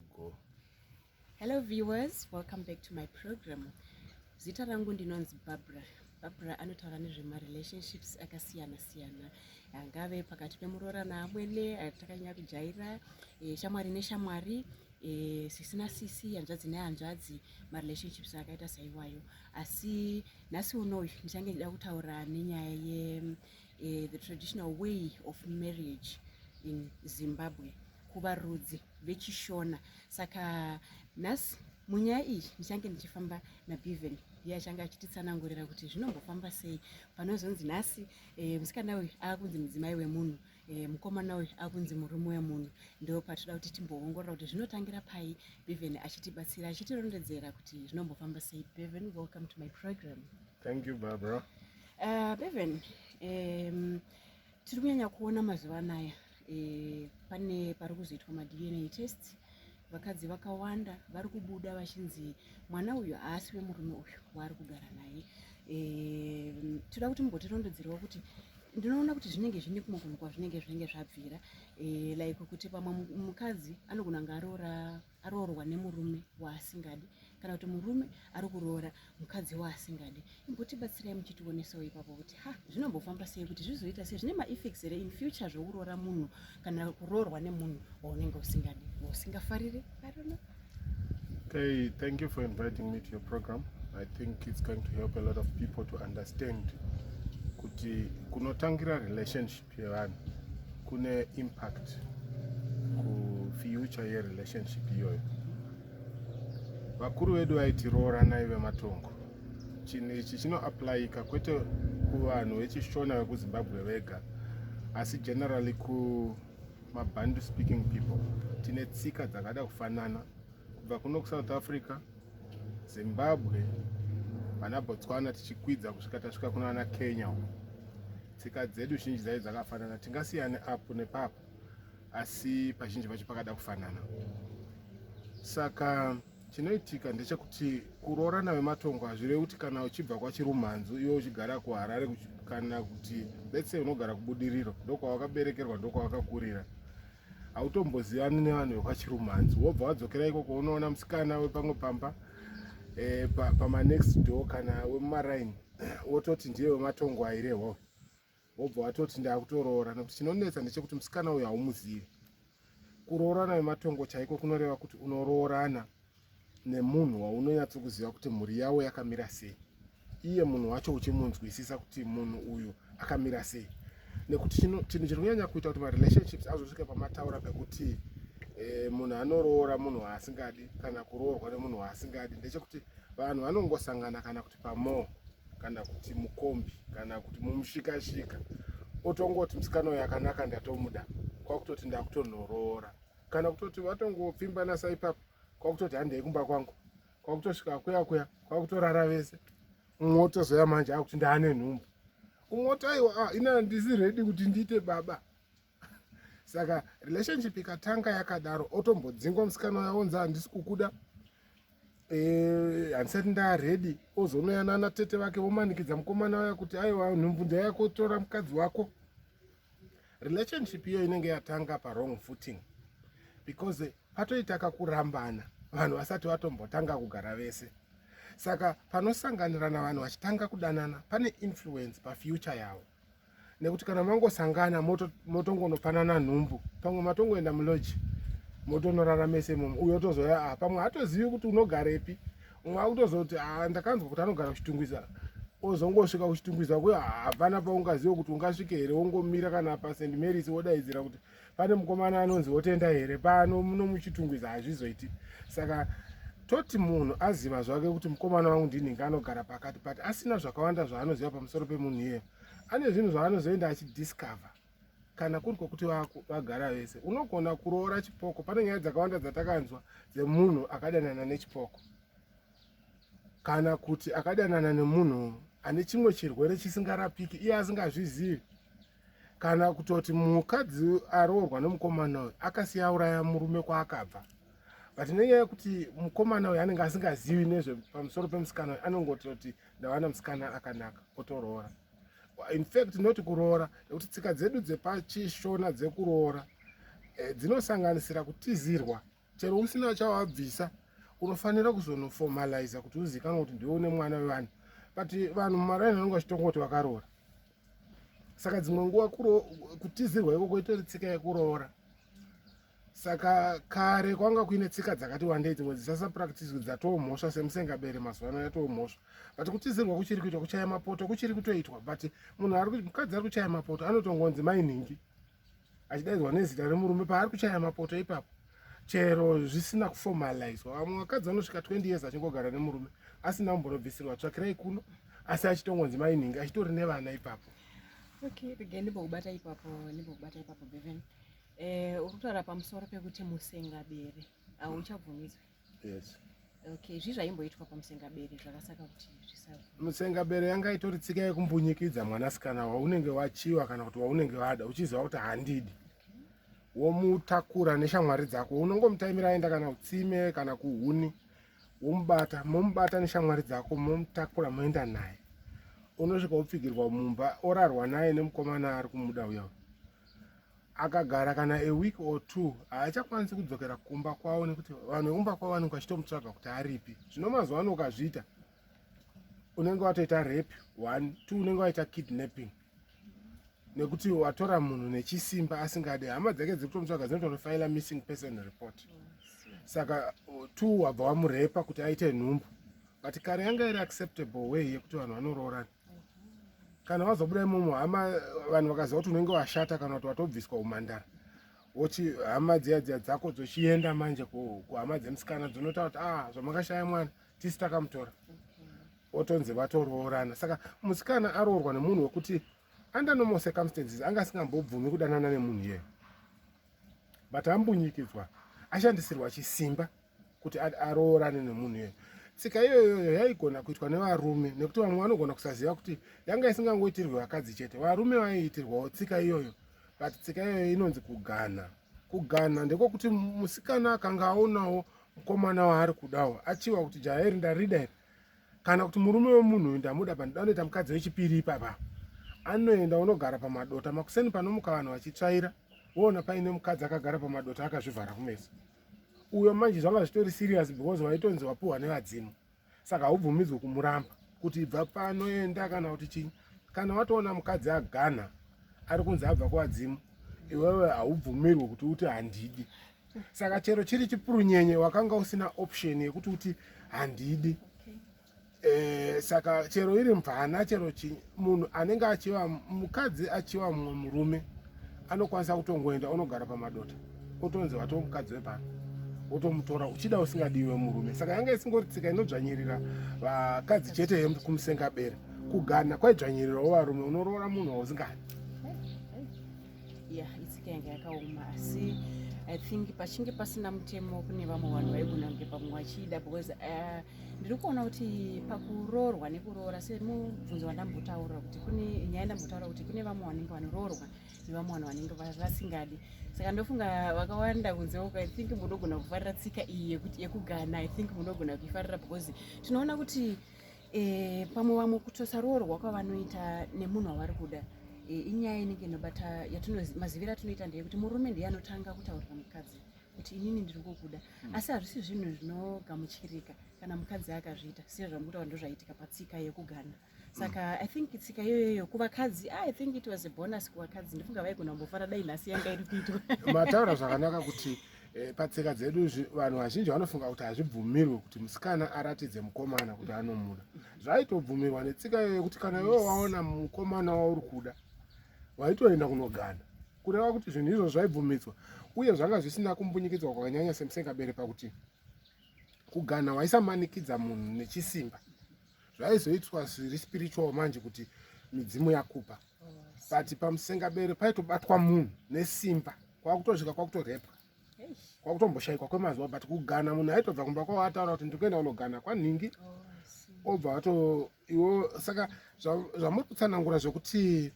go hello viewers welcome back to my program zita rangu ndinonzi barbara barbara anotaura nezvemarelationships akasiyana siyana angave pakati pemuroora naamwene atakanyanya kujaira e, shamwari neshamwari e, sisi nasisi hanzvadzi nehanzvadzi marelationships akaita saiwayo asi nhasi unoyu ndichange ndida kutaura nenyaya ye uh, the traditional way of marriage in zimbabwe kuvarudzi vechishona saka nhasi munyaya iyi ndichange ndichifamba nabeven iye achange achititsanangurira kuti zvinombofamba sei panozonzi nhasi e, musikana uyu akunzi mudzimai wemunhu e, mukomana uyu akunzi murume wemunhu ndo patinoda kuti timboongorora kuti zvinotangira pai beven achitibatsira achitirondedzera kuti zvinombofamba sei beven welcome to my program Thank you Barbara. Uh, Bevan, um, tiri kunyanya kuona mazuva anaya e, pane pari kuzoitwa madna test vakadzi vakawanda vari kubuda vachinzi mwana uyu haasi wemurume uyu waari kugara naye e, toda kuti mumbotirondedzerawo kuti ndinoona kuti zvinenge zvine kumwe kunhu kwazvinenge zvinenge zvabvira e, like kuti pamwe mukadzi anogona ngaroora aroorwa nemurume waasingadi kana kuti murume ari kuroora mukadzi waasingadi imbotibatsirai muchitionesawo ipapo kuti ha zvinombofamba sei kuti zvizoita sei zvine maeffects here in future zvekuroora munhu kana kuroorwa nemunhu waunenge usingadi wausingafariri arona Hey, thank you for inviting me to your program. I think it's going to help a lot of people to understand kuti kunotangira relationship zvevanhu kune impact kufuture yerelationship iyoyo vakuru vedu vaiti rooranai vematongo chinhu ichi chinoaplayika kwete kuvanhu vechishona vekuzimbabwe vega asi generally kumabandu speaking people tine tsika dzakada kufanana kubva kuno kusouth africa zimbabwe vana botswana tichikwidza kusvika tasvika kunoana kenya uko Tsika dzedu zhinji dzaive dzakafanana, tingasiyane apo nepapo, asi pazhinji pacho pakada kufanana. Saka chinoitika ndechekuti kuroorana vematongo hazvirevi kuti kana uchibva kwachirumhanzu iwe uchigara kuharare kana kuti letse unogara kubudiriro ndokwawakaberekerwa ndokwawakakurira hautombozivani nevanhu vekwachirumanzi wobva wadzokera ikoko unoona musikana wepamwe pamba e, pa, pamanext door kana wemumaraini wototi ndiye wematongo aireho wobva watoti ndakutoroora nokuti chinonetsa ndechekuti musikana uyu haumuzivi kuroorana wematongo chaiko kunoreva kuti unoroorana nemunhu waunonyatsokuziva kuti mhuri yavo yakamira sei iye munhu wacho uchimunzwisisa kuti munhu uyu akamira sei nekuti chinhu chiri kunyanya kuita kuti marelationships azosvika pamataura pekuti eh, munhu anoroora munhu waasingadi kana kuroorwa nemunhu waasingadi ndechekuti vanhu vanongosangana kana kuti pamore kana kuti mukombi kana kuti mumushikashika otongoti musikana uyo akanaka ndatomuda kwakutoti ndakutonoroora kana kutoti vatongopfimbana sa ipapo kwakutoti handei kumba kwangu kwakutosvika kuya kuya kwakutorara vese mumwe otozoya manje akuti ndaane nhumbu umwe otaiwa ah, ina handisi redi kuti ndiite baba saka relationship ikatanga yakadaro otombodzingwa musikana uya onzi handisi kukuda eh, handisati ndaa redi ozonoyana ana tete vake vomanikidza mukomana uya kuti aiwa nhumbu ndayako tora mukadzi wako relationship iyo inenge yatanga pawrong footing because patoita kakurambana vanhu vasati vatombotanga kugara vese saka panosanganirana vanhu vachitanga kudanana pane influence pafuture yavo nekuti kana mangosangana motongonopanana nhumbu pamwe matongoenda muloji motonorara mese imomo uyo otozouya a ah, pamwe hatozivi kuti unogarepi wakutozoti ah, ndakanzwa kuti anogara kuchitungwiza ozongosvika kuchitungwiza kuyo hapana paungazive kuti ungasvike here wongomira kana pasend maris wodaidzira kuti pane mukomana anonzi wotenda here pano muno muchitungwiza hazvizoiti saka toti munhu aziva zvake kuti mukomana wangu ndinhinge anogara pakati but asina zvakawanda zvaanoziva pamusoro pemunhu iyeyo ane zvinhu zvaanozoenda achidiscover kana kuri kwokuti vagara vese unogona kuroora chipoko pane nyaya dzakawanda dzatakanzwa dzemunhu akadanana nechipoko kana kuti akadanana nemunhu ane chimwe chirwere chisingarapiki iye asingazvizivi kana kutoti mukadzi aroorwa nemukomana uyu akasiya auraya murume kwaakabva but nenyaya yekuti mukomana uyu anenge asingazivi nezvepamusoro pemusikana uyu anongototi ndavana musikana akanaka otoroora in fact not kuroora nekuti tsika dzedu dzepachishona dzekuroora eh, dzinosanganisira kutizirwa chero usina chawabvisa unofanira kuzonoformaliza kuti uzikanwa kuti ndiwe une mwana wevanhu but vanhu mumaraini vanenge vachitonga kuti vakaroora saka dzimwe nguva kutizirwa ikoko itori tsika yekuroora saka kare kwanga kuine tsika dzakati wandei dzimwe dzisasapractiswe dzatoo mhosva semusengabere mazuva ano yatoo mhosva but kutizirwa kuchiri kuitwa kuchaya mapoto kuchiri kutoitwa but munhu ari mukadzi ari kuchaya mapoto anotongonzi mainhingi achidaidzwa nezita remurume paari kuchaya mapoto ipapo chero zvisina kuformalizwa vamwe vakadzi vanosvika 20 years achingogara nemurume asina kumbonobvisirwa tsvakirai kuno asi achitongonzi mainhingi achitori nevana ipapo okay begeni bokubata ipapo nebokubata ipapo beven Eh, uri kutaura pamusoro pekuti musengabere hauchabvumidzwe yes okay zvii zvaimboitwa pamusengabere zvakasaka kuti zvisabvu musengabere yanga itori tsika yekumbunyikidza mwanasikana waunenge wachiwa kana kuti waunenge wada uchiziva kuti handidi womutakura neshamwari dzako unongomutaimira aenda kana kutsime kana kuhuni womubata momubata neshamwari dzako momutakura moenda naye unosvika wopfigirwa mumba orarwa naye nemukomana ari kumuda uya akagara kana a week or two haachakwanisi kudzokera kumba kwavo nekuti vanhu vekumba kwavo vanenge vachitomutsvaga kuti aripi zvino mazuva ano ukazviita unenge watoita rape one two unenge waita kidnapping nekuti watora munhu nechisimba asingade hama dzake dziri kutomutsvaga dzinotonofaila missing person report saka two wabva wamurepa kuti aite nhumbu but kare yanga iri acceptable way yekuti vanhu vanoroorana kana wazobuda imomo hama vanhu vakaziva kuti unenge washata kana kuti watobviswa umhandara wochi hama dziya dziya dzako dzochienda manje kuhama dzemusikana dzonotaura kuti ah zvamakashaya mwana tisi takamutora otonzi vatoroorana saka musikana aroorwa nemunhu wekuti under normal circumstances anga asingambobvumi kudanana nemunhu iyeyo but ambunyikidzwa ashandisirwa chisimba kuti aroorane nemunhu iyoyo tsika iyoyoyo yaigona kuitwa nevarume nekuti vamwe vanogona kusaziva kuti yanga isingangoitirwe vakadzi chete varume vaiitirwawo tsika iyoyo but tsika iyoyo inonzi kuganha kuganha ndekokuti musikana akanga aonawo mukomana waari kudawo achiva kuti jaya iri ndarida iri kana kuti murume wemunhu uyu ndamuda pa ndanoita mukadzi wechipiri ipapa anoenda unogara pamadota makuseni panomuka vanhu vachitsvaira woona paine mukadzi akagara pamadota akazvivhara kumeso uyo manje zvanga zvitori serious because waitonzi wapuhwa nevadzimu saka haubvumidzwe kumuramba kuti ibva panoenda kana kuti chii kana watoona mukadzi agana ari kunzi abva kuvadzimu iwewe haubvumirwe kuti uti handidi saka chero chiri chipurunyenye wakanga usina option yekuti uti handidi Eh, saka chero iri mvana chero chi munhu anenge achiva mukadzi achiva mumwe murume anokwanisa kutongoenda onogara pamadota otonzi wato mukadzi wepano wotomutora uchida usingadiwe murume saka yanga isingori tsika inodzvanyirira vakadzi chete kumusengabere kugana kwaidzvanyirirawo varume unoroora munhu wausingadi ya itsika yanga yakaoma asi i think pachinge pasina mutemo kune vamwe vanhu vaigona kunge pamwe vachida because eh, ndiri kuona kuti pakuroorwa nekuroora semubvunzo wandambotaura kuti kune nyaya ndambotaura kuti kune vamwe vanenge vanoroorwa nevamwe vanhu vanenge vasingadi saka ndofunga vakawanda kunze uko i think munogona kufarira tsika iyi yekuti yekugana i think munogona kuifarira because tinoona kuti e, pamwe vamwe kutosa roorwa kwavanoita nemunhu wavari kuda e, inyaya inenge inobata yatinozivira atinoita ndeyekuti murume ndiye anotanga kutaurira mukadzi kuti inini ndiri kukuda hmm. asi hazvisi zvinhu zvinogamuchirika kana mukadzi akazviita siya zvamukutaura ndozvaitika patsika yekugana saka hmm. i think tsika iyoyoyo kuvakadzi ah, i think it was a bonus kuvakadzi ndifunga vaigona kumbofara dai nhasi yanga iri kuitwa mataura zvakanaka kuti E, patsika dzedu vanhu vazhinji vanofunga kuti hazvibvumirwe kuti musikana aratidze mukomana kuti anomuda zvaitobvumirwa netsika iyoyo kuti kana iwe waona mukomana wauri kuda waitoenda kunogana kureva kuti zvinhu izvo zvaibvumidzwa uye zvanga zvisina kumbunyikidzwa kwakanyanya semusengabere pakuti kugana waisamanikidza munhu nechisimba zvaizoitwa zviri spiritual manje kuti midzimu yakupa but pamusengabere paitobatwa munhu nesimba kwakutosvika kwakutorepwa kwakutomboshaikwa kwemazuva but kugana munhu aitobva kumba kwavo ataura kuti ndiri kuenda kunogana kwanhingi oh, obva wato iwo saka zvamuri kutsanangura zvekuti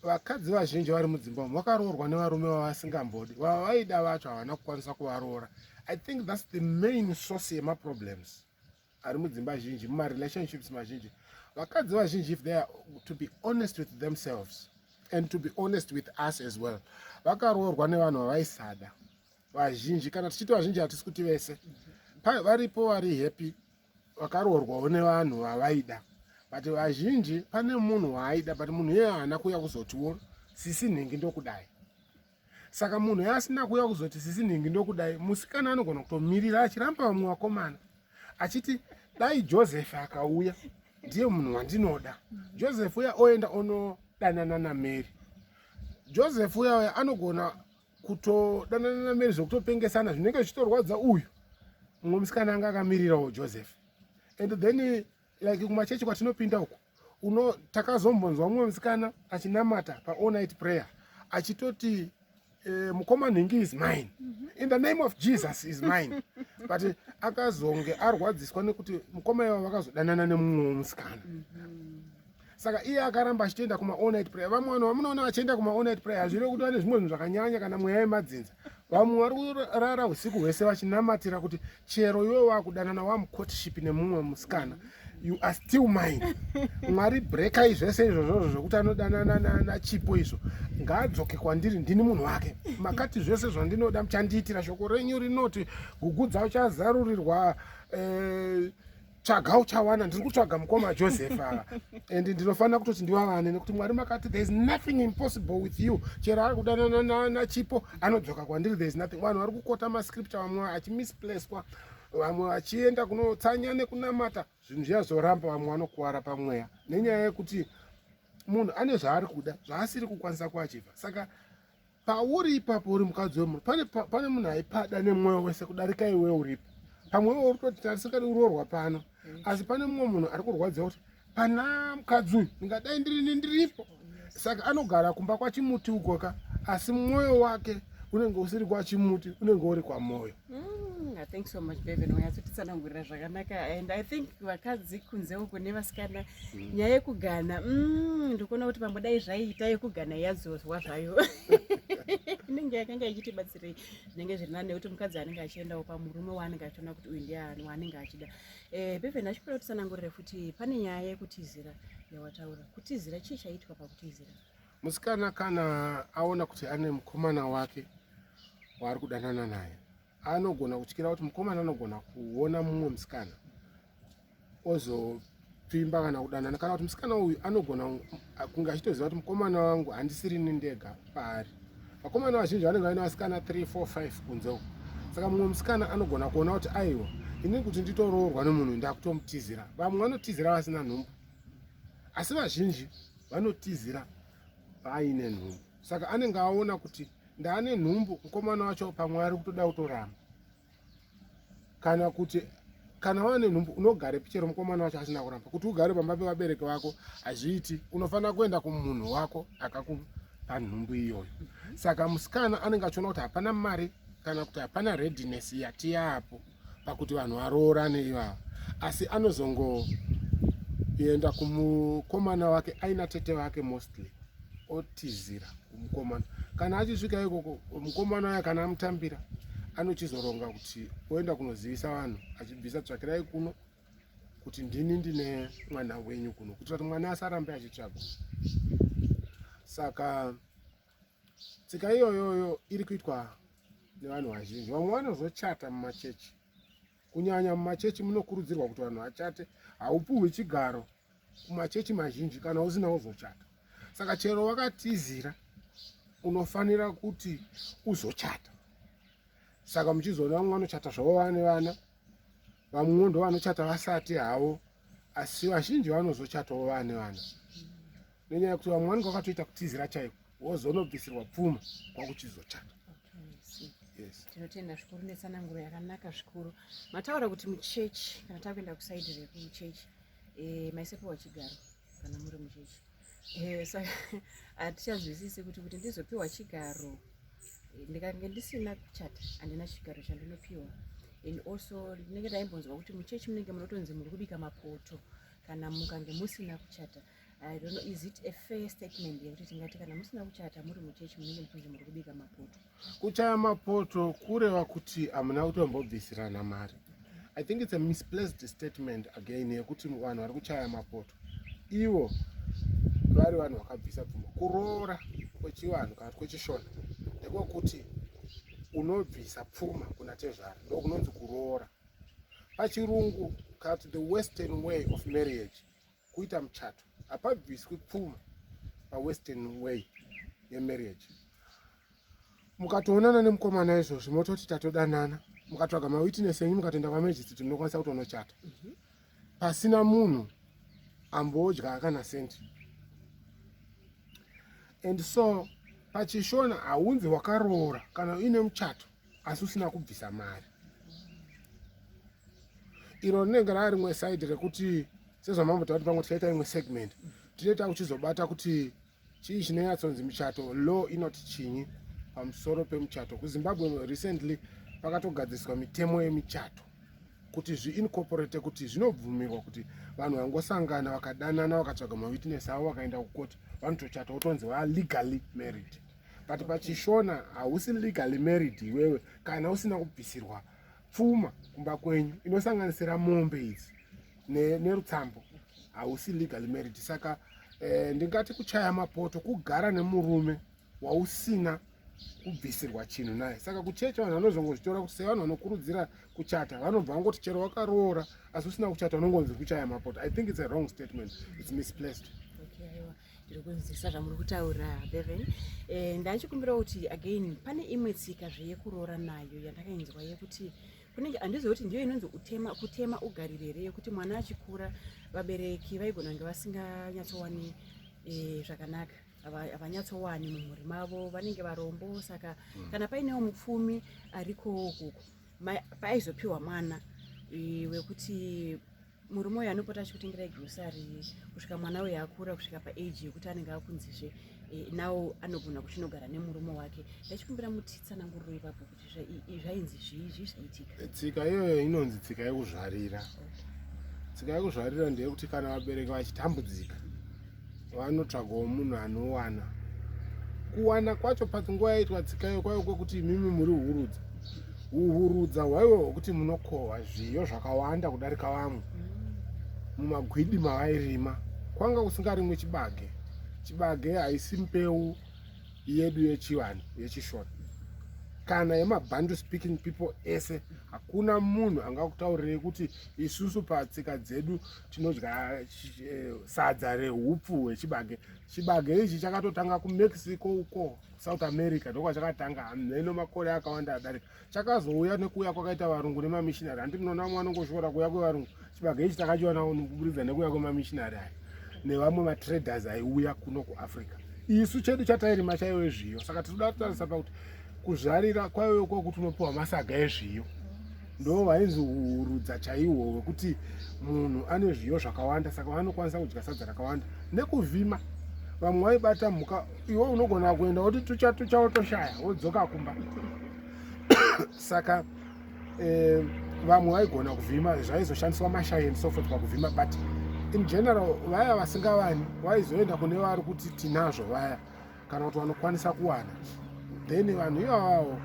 vakadzi vazhinji vari mudzimba umu vakaroorwa nevarume vavasingambodi vava vaida vacho havana kukwanisa kuvaroora i think thats the main source yemaproblems ari mudzimba zhinji mumarelationships mazhinji vakadzi vazhinji if they are to be honest with themselves and to be honest with us as well vakaroorwa nevanhu vavaisada vazhinji kana tichiti vazhinji hatisi kuti vese varipo vari happy vakaroorwawo nevanhu vavaida but vazhinji pane munhu waaida but munhu iye haana kuuya kuzotiwo sisi nhingi ndokudai saka munhu yaasina kuuya kuzoti sisi nhingi ndokudai musikana anogona kutomirira achiramba vamwe vakomana achiti dai joseph akauya ndiye munhu wandinoda joseph uya oenda onodanana namary joseph uya uya anogona kutodanana namary zvekutopengesana zvinenge zvichitorwadza uyu mumwe musikana anga akamirirawo joseph and then like kumachechi kwatinopinda uku uno takazombonzwa mumwe musikana achinamata paall night prayer achitoti uh, eh, mukoma nhingi is mine mhm. in the name of jesus is mine but eh, akazonge arwadziswa nekuti mukoma iva vakazodanana nemumwe musikana mhm. saka iye akaramba achitoenda kuma all night prayer vamwe vanhu vamunoona vachienda kuma all night prayer hazvireve kuti vane zvimwe zvinhu zvakanyanya kana mweya yemadzinza vamwe vari kurara usiku hwese vachinamatira kuti chero iwe wakudanana wamucourtship nemumwe musikana you are still mine mwari brekai zvese izvozvozvo zvokuti anodanana nachipo izvo ngaadzoke kwandiri ndini munhu wake makati zvese zvandinoda muchandiitira shoko renyu rinoti gugu dzauchazarurirwa eh, tsvaga uchawana ndiri kutsvaga mukoma joseph ava and ndinofanira kutoti ndivavane nekuti mwari makati thereis nothing impossible with you chero ari kudanana nachipo anodzoka kwandiri thereis nothing vanhu vari kukota mascripture vamwe achimisplacwa vamwe vachienda kunotsanya nekunamata zvinhu zviya zvoramba vamwe vanokuvara pamweya nenyaya yekuti munhu ane zvaari kuda zvaasiri kukwanisa kuachiva saka pauri ipapo uri mukadzi wemunhu pane, pane munhu aipada nemwoyo wese kudarika iwe uripo pamwe iwe uri toti tarisakati uroorwa pano mm. asi pane mumwe munhu ari kurwadziwa kuti pana mukadzi uyu ndingadai ndirini ndiripo saka anogara kumba kwachimuti ukoka asi mwoyo wake unenge usiri kwachimuti unenge uri kwamwoyo Mm, I think so much baby nonyatsotisanangurira zvakanaka and I think vakadzi kunze uko nevasikana mm. nyaya yekugana mm, ndikuona kuti pamwe dai zvaiita yekugana yadzozwa zvayo inenge yakanga ichitibatsirei zvinenge zviri nani nekuti mukadzi anenge achiendawo pamurume waanenge achiona kuti uyu ndiani waanenge achida eh, beven achipera kutisanangurire futi pane nyaya yekutizira yawataura kutizira chii chaiitwa pakutizira Musikana kana aona kuti ane mukomana wake waari kudanana naye anogona kutyira kuti mukomana anogona kuona mumwe musikana ozopfimba kana kudanana kana kuti musikana uyu anogona kunge achitoziva kuti mukomana wangu handisirini ndega paari vakomana vazhinji vanenge vaine vasikana 3 4 5 kunze uku saka mumwe musikana anogona kuona kuti aiwa ini kuti nditoroorwa nemunhu ndakutomutizira vamwe vanotizira vasina nhumbu asi vazhinji vanotizira paaine nhumbu saka anenge aona kuti ndaane nhumbu mukomana wacho pamwe ari kutoda kutoramba kana kuti kana waane nhumbu unogare pichero mukomana wacho asina kuramba kuti ugare pamba pevabereki vako hazviiti unofanira kuenda kumunhu wako akakupa nhumbu iyoyo saka musikana anenge achiona kuti hapana mari kana kuti hapana readiness yatiyapo pakuti vanhu varoorane ivava asi anozongoenda kumukomana wake aina tete vake mostly otizira kumukomana kana achisvika ikoko mukomana uya kana amutambira anochizoronga kuti oenda kunozivisa vanhu achibvisa tsvakirai kuno kuti ndini ndine mwana wenyu kuno kuitira kuti mwana asarambe achitsvagwa saka Tsika iyoyoyo iri kuitwa nevanhu vazhinji. Vamwe vanozochata mumachechi, kunyanya mumachechi munokurudzirwa kuti vanhu vachate. Haupuhwi chigaro kumachechi mazhinji kana usina uzochata. Saka chero wakatizira unofanira kuti uzochata. Saka muchizoona vamwe vanochata zvavo vane vana, vamwewo ndo vanochata vasati havo, asi vazhinji vanozochatawo vane vana. nenyaya yekuti vamwe vanenge vakatoita kutizira chaiko wozonobvisirwa pfuma kwakuchizochata tinotenda zvikuru netsananguro yakanaka zvikuru mataura kuti muchechi kana takuenda kusaidi rekuchechi eh, maisepewa chigaro kana muri muchechi eh, saka hatichazwisisi kuti kuti ndizopiwa chigaro eh, ndikange ndisina kuchata handina chigaro chandinopiwa and also ndinenge ndaimbonzwa kuti muchechi munenge munotonzi muri kubika mapoto kana mukange musina kuchata I don't know, is it a fair statement yekuti tingati kana musina kuchata muri muchechi munenge muchinzi muri kubika mapoto? Kuchaya mapoto kureva kuti hamuna kutombobvisirana mari. I think it's a misplaced statement again yekuti vanhu vari kuchaya mapoto ivo vari vanhu vakabvisa pfuma. Kuroora kwechivanhu kana kwechishona ndiko kuti unobvisa pfuma kuna tezvara ndokunonzi kuroora. Pachirungu kana kuti the western way of marriage kuita muchato hapabviswi pfuma pawestern way yemarriage mukatoonana nemukomana izvozvi mototi tatodanana mukatsvaga mawitness enyu mukatoenda kwamajistrate munokwanisa kutonochata mhm. pasina munhu ambodya kana senti and so pachishona haunzi wakaroora kana uine muchato asi usina kubvisa mari iro rinenge rava rimwe side rekuti sezvamambotaura kuti pamwe tichaita imwe segment tinoita kuchizobata kuti chii chinonyatsonzi michato law inoti chinyi pamusoro pemuchato kuzimbabwe recently pakatogadziriswa mitemo yemichato kuti zviincorporate kuti zvinobvumirwa kuti vanhu vangosangana vakadanana vakatsvaga mawitness avo vakaenda kukoti vanotochata wotonzi valegally married but pachishona hausi legally married iwewe kana usina kubvisirwa pfuma kumba kwenyu inosanganisira mombe idzi nerutsambo ne hausi legally married saka eh, ndingati kuchaya mapoto kugara nemurume wausina kubvisirwa chinhu naye saka kuchecha vanhu vanozongozvitora kuti sevanhu vanokurudzira kuchata vanobva vangoti chero wakaroora asi usina kuchata unongonzi kuchaya mapoto i think its a wrong statement its misplaced okay, ndiri kunzisa zvamuri kutaura beven eh, ndachikumbira kuti again pane imwe tsika zve yekuroora nayo yandakainzwa yekuti kunenge handizivi kuti ndiyo inonzi utema kutema ugarire here yekuti mwana achikura vabereki vaigona kunge vasinganyatsowani eh, zvakanaka havanyatsowani mumhuri mavo vanenge varombo saka mm. kana painewo mupfumi ariko kuku paizopiwa mwana eh, wekuti murume uyu anopota achikutengerai grocery kusvika mwana uyu akura kusvika paage yekuti anenge akunzizve eh, now anogona kuchinogara nemurume wake ndachikumbira mutitsananguriro ipapo kuti zvainzi zvii zvii zvaitika eh, tsika iyoyo inonzi tsika yekuzvarira tsika yekuzvarira ndeyekuti kana vabereki vachitambudzika vanotsvagawo munhu anowana kuwana kwacho pati nguva yaitwa tsikayo kwaive kwekuti imimi muri hurudza uhurudza hwaive hwekuti munokohwa zviyo zvakawanda kudarika vamwe mumagwidi mavairima kwanga kusingarimwe chibage chibage haisi mbeu yedu yechivanhu yechishona kana yemabhandu speaking people ese hakuna munhu angakutaurirei kuti isusu patsika dzedu tinodya eh, sadza rehupfu hwechibage chibage ichi chakatotanga kumexico uko south america ndokwa chakatanga hamheno makore akawanda adarika chakazouya nekuuya kwakaita varungu nemamishinari handi munoona vamwe vanongoshora kuuya kwevarungu chibage ichi takachiwanawo kuburidza nekuuya kwemamishinari aya nevamwe matraders aiuya kuno kuafrica isu chedu chatairima chaive zviyo saka tinoda kutarisa pakuti kuzvarira kwaive kwokuti unopiwa masaga ezviyo ndo vainzi urudza chaihwo hwekuti munhu ane zviyo zvakawanda saka vanokwanisa kudya sadza rakawanda nekuvhima vamwe vaibata mhuka iwe unogona kuenda woti tucha tucha wotoshaya wodzoka kumba saka eh, vamwe vaigona kuvhima zvaizoshandiswa mashaini sofot pakuvhima but in general vaya vasingavani vaizoenda kune vari kuti tinazvo vaya kana kuti vanokwanisa kuwana then vanhu ivavawo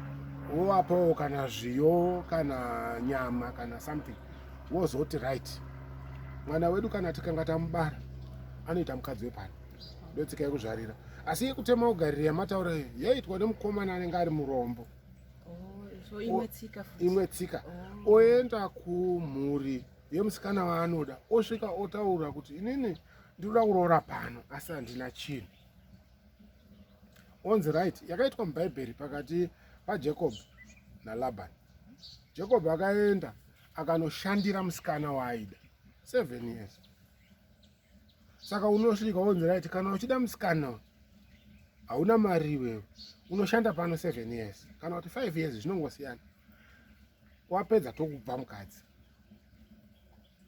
wovapawo kana zviyo kana nyama kana something wozoti right mwana wedu kana tikanga tamubara anoita mukadzi wepano ndotsika yekuzvarira asi yekutema ugariro yamataura iyo yaitwa nemukomana anenge ari murombo oh, imwe tsika oh. oenda kumhuri yemusikana waanoda osvika otaura kuti inini ndinoda kuroora pano asi handina chinhu onzi right yakaitwa mubhaibheri pakati pajacob nalaban jacob akaenda akanoshandira musikana waaida seven years saka unosvika onzi right kana uchida musikana hauna mari iwewe unoshanda pano seven years kana kuti five years zvinongosiyana wapedza tokubva mukadzi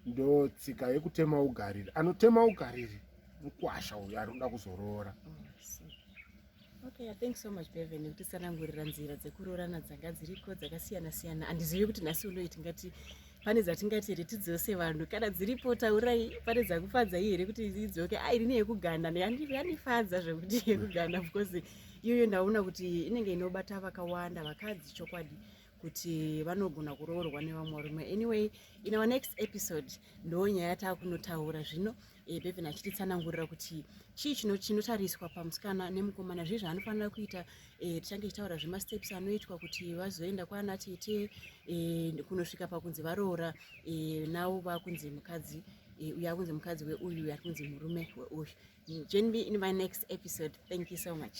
ndo tsika yekutema ugariri anotema ugariri mukwasha uyo ari kuda kuzoroora oh, okay thank so much beven kutisanangurira nzira dzekuroorana dzanga dziriko dzakasiyana siyana andizivi kuti nhasi unoyi tingati pane dzatingati here tidzose vanhu kana dziripo taurai pane dzakufadza iyi here kuti idzoke a ah, irini yekuganda yanifadza zvekuti yekuganda because iyoyo ndaona kuti inenge inobata vakawanda vakadzi chokwadi kuti vanogona kuroorwa nevamwe varume anyway in our next episode ndo nyaya yataa kunotaura zvino eh, beven achititsanangurira kuti chii chino chinotariswa pamusikana nemukomana zvii zvaanofanira kuita eh, tichange tichitaura zvemasteps anoitwa kuti vazoenda kwaana tete eh, kunosvika pakunzi varoora navo vakunzi mukadzi uyu akunzi mukadzi weuyu uyu arikunzi murume weuyu join me in my next episode thank you so much